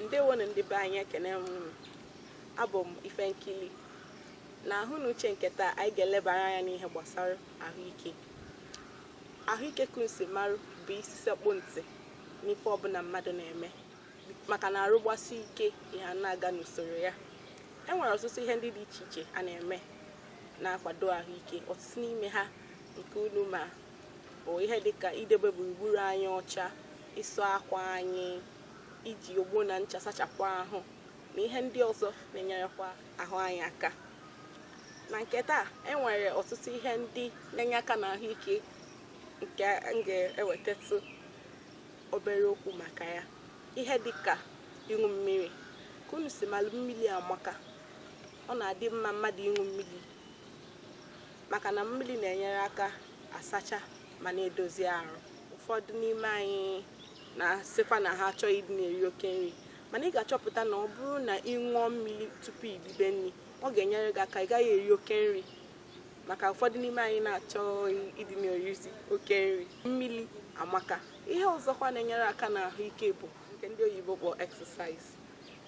ndewonu ndị be anyị ekene m unu abụ m ifenkili na ahụ na uche nke taa anyị ga-elebara anya n'ihe gbasara ahụike ahụike ka unu si marụ bụ isi sekpụ ntị n'ife ọbụla mmadụ na-eme maka na arụ gbasie ike ihe na-aga n'usoro ya e nwere ọtụtụ ihe ndị dị iche iche a na-eme na-akwado ahụike ọtụtụ n'ime ha nke unu ma bụ ihe dịka idebe gburugburu anyị ọcha ịsụ akwa anyị iji ogbo na ncha sachapụ ahụ na ihe ndị ọzọ na-enyerekwa ahụ anyị aka na nke taa enwere ọtụtụ ihe ndị na-enye aka na ahụike nke m ga-ewetatụ obere okwu maka ya ihe dị ka ịṅụ mmiri ka unu si malụ mmiri amaka ọ na-adị mma mmadụ ịṅụ mmiri maka na mmiri na-enyere aka asacha ma na-edozi arụ ụfọdụ n'ime anyị na-asịkwa na ha achọghị ịdị na-eri oke nri mana ị ga-achọpụta na ọ bụrụ na ị ṅụọ mmiri tupu iribe nri ọ ga-enyere gị aka ị gaghị eri oke nri maka ụfọdụ n'ime anyị na-achọghị ịdị na-erizi oke nri mmiri amaka ihe ọzọkwa na-enyere aka na ahụike bụ nke ndị oyibo kpọ exercise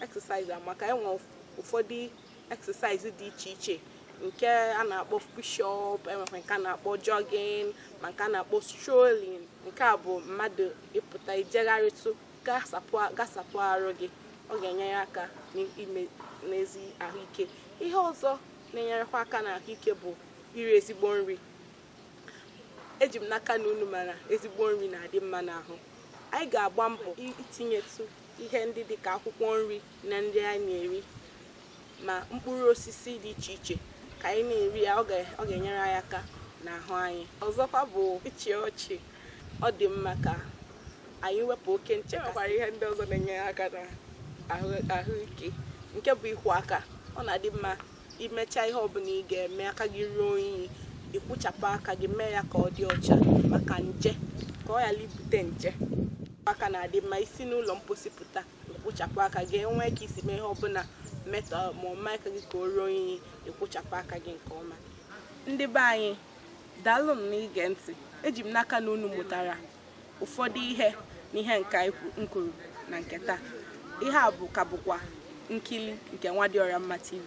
exercise amaka enwe ụfọdụ exercise dị iche iche nke a na-akpọ push-up enwekwa nke a na-akpọ jogging ma nke a na-akpọ strolling nke a bụ mmadụ ịpụta ijegharịtụ gasapụ arụ gị ọ ga-enyere aka n'ime n'ezi ahụike ihe ọzọ na-enyerekwa aka na ahụike bụ iri ezigbo nri eji m n'aka na unu mara ezigbo nri na-adị mma n'ahụ anyị ga-agba mbọ itinyetụ ihe ndị dị ka akwụkwọ nri na nri anyị na-eri ma mkpụrụ osisi dị iche iche ka anyị na-eri ya ọ ga-enyere anyị aka n'ahụ anyị ọzọkwa bụ ịchị ọchị ọ dị mma ka anyị wepụ oke nche enwekwara ihe ndị ọzọ na-enye aka na ahụike nke bụ ịkwụ aka ọ na-adị mma imecha ihe ọbụla ị ga-eme aka gị ruo unyi ịkwụchapụ aka gị mee ya ka ọ dị ọcha maka nje ka ọ ghara ibute nje aka na-adị mma isi n'ụlọ mposi pụta ịkwụchapụ aka gị enwee ka isi mee ihe ọbụla metọ ma ọ mee aka gị ka o ruo unyi ịkwụchapụ aka gị nke ọma ndị be anyị daalụ m n'ige ntị eji m n'aka na unu mụtara ụfọdụ ihe na ihe nke anyị kwu- m kwuru na nke taa ihe a bụ ka bụkwa nkili nke nwadịọramma tv